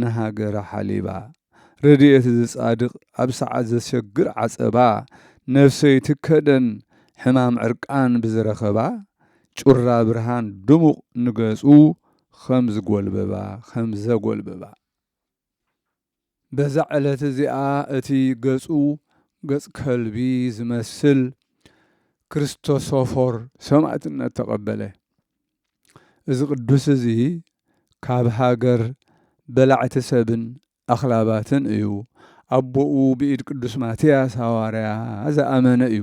ንሃገራ ሓሊባ ረድኤት እዚ ጻድቅ ኣብ ሰዓት ዘሸግር ዓጸባ ነብሰይቲ ከደን ሕማም ዕርቃን ብዝረኸባ ጩራ ብርሃን ድሙቅ ንገጹ ኸም ዝጎልበባ ኸም ዘጎልበባ በዛ ዕለት እዚኣ እቲ ገጹ ገጽ ከልቢ ዝመስል ክርስቶሶፎር ሰማእትነት ተቀበለ እዚ ቅዱስ እዚ ካብ ሃገር በላዕቲ ሰብን ኣኽላባትን እዩ። ኣቦኡ ብኢድ ቅዱስ ማትያስ ሃዋርያ ዝኣመነ እዩ።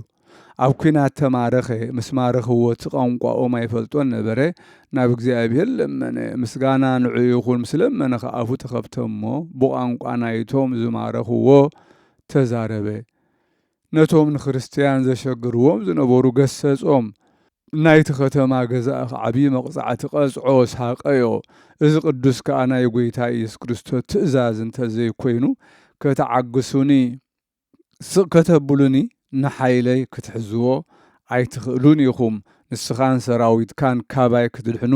ኣብ ኲናት ተማረኸ፣ ምስ ማረኽዎ እቲ ቛንቋኦም ኣይፈልጦን ነበረ፣ ናብ እግዚኣብሔር ለመነ፣ ምስጋና ንዑ ይኹን፣ ምስ ለመነ ኸኣ ኣፉ ተኸፍተ እሞ ብቛንቋ ናይቶም ዝማረኽዎ ተዛረበ። ነቶም ንክርስትያን ዘሸግርዎም ዝነበሩ ገሰጾም። ናይቲ ኸተማ ገዛኢ ኸኣ ዓብዪ መቕጻዕቲ ቐጽዖ፣ ሳቐዮ። እዚ ቕዱስ ከኣ ናይ ጐይታ ኢየሱስ ክርስቶስ ትእዛዝ እንተ ዘይኰይኑ፣ ከተዓግሱኒ፣ ስቕ ከተብሉኒ፣ ንሓይለይ ክትሕዝዎ ኣይትኽእሉን ኢኹም፣ ንስኻን ሰራዊትካን ካባይ ክትድሕኑ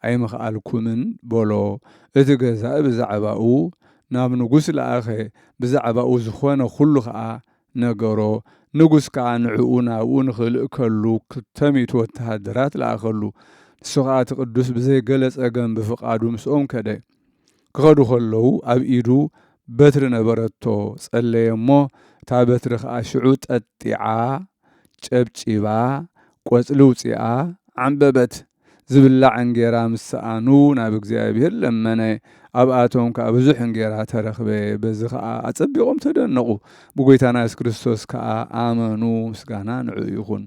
ኣይምኸኣልኩምን በሎ። እቲ ገዛኢ ብዛዕባኡ ናብ ንጉስ ለኣኸ፣ ብዛዕባኡ ዝዀነ ዅሉ ኸኣ ነገሮ። ንጉስ ከኣ ንዕኡ ናብኡ ንኺልእከሉ ክልተ ሚእቲ ወተሃደራት ለኣኸሉ። ንሱ ኸኣ እቲ ቅዱስ ብዘይ ገለ ጸገም ብፍቓዱ ምስኦም ከደ። ክኸዱ ኸለዉ ኣብ ኢዱ በትሪ ነበረቶ፣ ጸለየ እሞ፣ እታ በትሪ ኸኣ ሽዑ ጠጢዓ፣ ጨብጪባ፣ ቈጽሊ ኣውጺኣ፣ ዓምበበት። ዝብላዕ እንጌራ ምስ ሰኣኑ ናብ እግዚኣብሄር ለመነ፣ ኣብኣቶም ከኣ ብዙሕ እንጌራ ተረኽበ፣ በዚ ኸኣ ኣጸቢቖም ተደነቑ፣ ብጐይታና የሱስ ክርስቶስ ከኣ ኣመኑ፣ ምስጋና ንዕኡ ይኹን።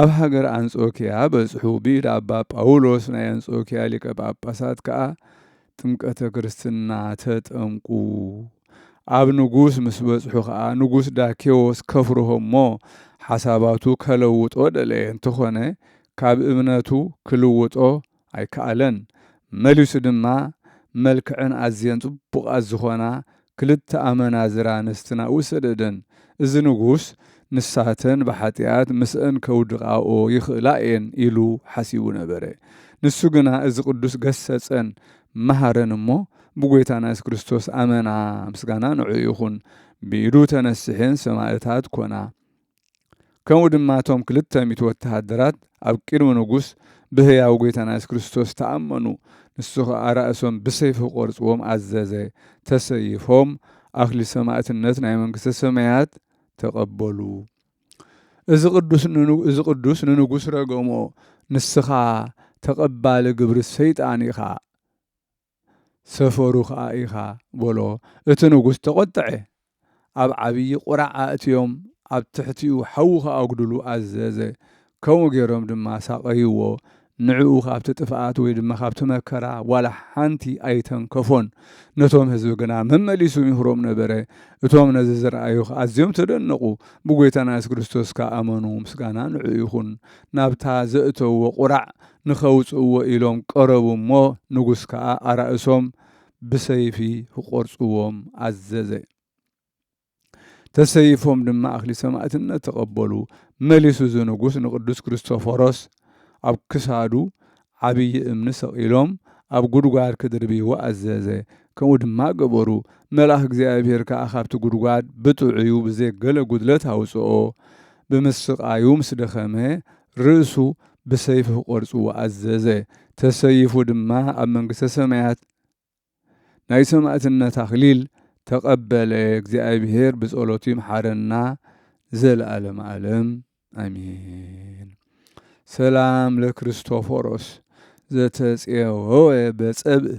ኣብ ሃገር ኣንጾክያ በጽሑ፣ ብኢድ ኣባ ጳውሎስ ናይ ኣንጾክያ ሊቀ ጳጳሳት ከኣ ጥምቀተ ክርስትና ተጠምቁ። ኣብ ንጉስ ምስ በጽሑ ከኣ ንጉስ ዳኬዎስ ከፍርሆ እሞ ሓሳባቱ ከለውጦ ደለየ እንተኾነ ካብ እምነቱ ክልውጦ ኣይከኣለን። መሊሱ ድማ መልክዐን ኣዝየን ጽቡቓት ዝኾና ክልተ ኣመናዝር ኣንስትና ውሰደደን፣ እዚ ንጉስ ንሳተን ብሓጢኣት ምስእን ከውድቓኦ ይኽእላ እየን ኢሉ ሓሲቡ ነበረ። ንሱ ግና እዚ ቅዱስ ገሰጸን መሃረን እሞ ብጐይታና የሱስ ክርስቶስ ኣመና፣ ምስጋና ንዕኡ ይኹን፣ ብኢዱ ተነሲሐን ሰማእታት ኮና። ከምኡ ድማ እቶም ክልተ ሚእቲ ወተሃደራት ኣብ ቅድሚ ንጉስ ብህያው ጐይታና የሱስ ክርስቶስ ተኣመኑ፣ ንሱ ኸኣ ራእሶም ብሰይፊ ክቖርጽዎም ኣዘዘ፣ ተሰይፎም ኣኽሊል ሰማእትነት ናይ መንግስተ ሰማያት ተቐበሉ። እዚ ቅዱስ ንኑ እዚ ቅዱስ ንንጉስ ረገሞ፣ ንስኻ ተቐባሊ ግብሪ ሰይጣን ኢኻ። ሰፈሩ ኸኣ ኢኻ፣ በሎ። እቲ ንጉስ ተቖጥዐ፣ ኣብ ዓብዪ ቍራዕ ኣእትዮም ኣብ ትሕቲኡ ሓዊ ኸኣጕድሉ ኣዘዘ፣ ከምኡ ገይሮም ድማ ኣሳቐይዎ፣ ንዕኡ ኻብቲ ጥፍኣት ወይ ድማ ኻብቲ መከራ ዋላ ሓንቲ ኣይተንከፎን። ነቶም ህዝቢ ግና መመሊሱ ይምህሮም ነበረ፣ እቶም ነዚ ዝረኣዩ ኸኣ ኣዝዮም ተደነቑ፣ ብጐይታና የሱስ ክርስቶስ ከኣ ኣመኑ፣ ምስጋና ንዕኡ ይኹን፣ ናብታ ዘእተውዎ ቍራዕ ንኸውጽእዎ ኢሎም ቀረቡ እሞ ንጉስ ከኣ ኣራእሶም ብሰይፊ ክቆርጽዎም ኣዘዘ። ተሰይፎም ድማ ኣክሊል ሰማእትነት ተቀበሉ። መሊሱ እዚ ንጉስ ንቅዱስ ክርስቶፎሮስ ኣብ ክሳዱ ዓብዪ እምኒ ሰቂሎም ኣብ ጉድጓድ ክድርብይዎ ኣዘዘ። ከምኡ ድማ ገበሩ። መልኣኽ እግዚኣብሔር ከኣ ካብቲ ጉድጓድ ብጥዑዩ ብዘይ ገለ ጉድለት ኣውጽኦ። ብምስቃዩ ምስ ደኸመ ርእሱ ብሰይፊ ክቖርጽዎ ኣዘዘ። ተሰይፉ ድማ ኣብ መንግስተ ሰማያት ናይ ሰማእትነት ኣኽሊል ተቐበለ። እግዚኣብሔር ብጸሎቱ ይምሓረና ንዘለዓለመ ዓለም ኣሜን። ሰላም ለክርስቶፎሮስ ዘተጼወወ በጸብእ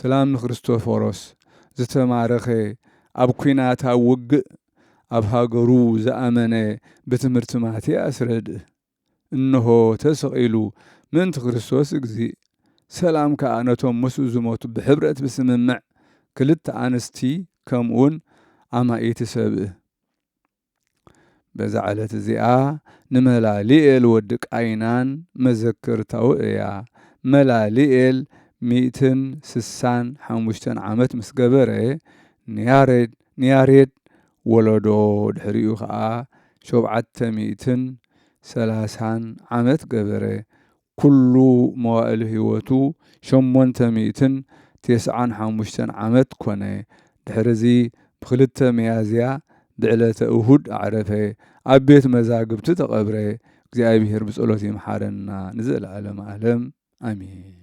ሰላም ንክርስቶፎሮስ ዝተማረከ ኣብ ኩናት ኣብ ውግእ ኣብ ሃገሩ ዝኣመነ ብትምህርቲ ማትያስ ረድእ እንሆ ተሰቂሉ ምእንቲ ክርስቶስ እግዚእ ሰላም ከኣ ነቶም ምስኡ ዝሞቱ ብሕብረት ብስምምዕ ክልተ ኣንስቲ ከምኡውን ኣማኢቲ ሰብእ በዛ ዕለት እዚኣ ንመላሊኤል ወዲ ቃይናን መዘክርታዊ እያ። መላሊኤል ሚእትን ስሳን ሓሙሽተን ዓመት ምስ ገበረ ንያሬድ ንያሬድ ወለዶ ድሕሪኡ ከኣ ሾብዓተ ሚእትን ሰላሳን ዓመት ገበረ። ኩሉ መዋእል ህይወቱ ሸሞንተ ሚእትን ቴስዓን ሓሙሽተን ዓመት ኮነ። ድሕርዚ ብክልተ ሚያዝያ ብዕለተ እሁድ ኣዕረፈ። ኣብ ቤት መዛግብቲ ተቐብረ። እግዚኣብሄር ብጸሎት ይምሓረና ንዘለዓለመ ዓለም ኣሜን።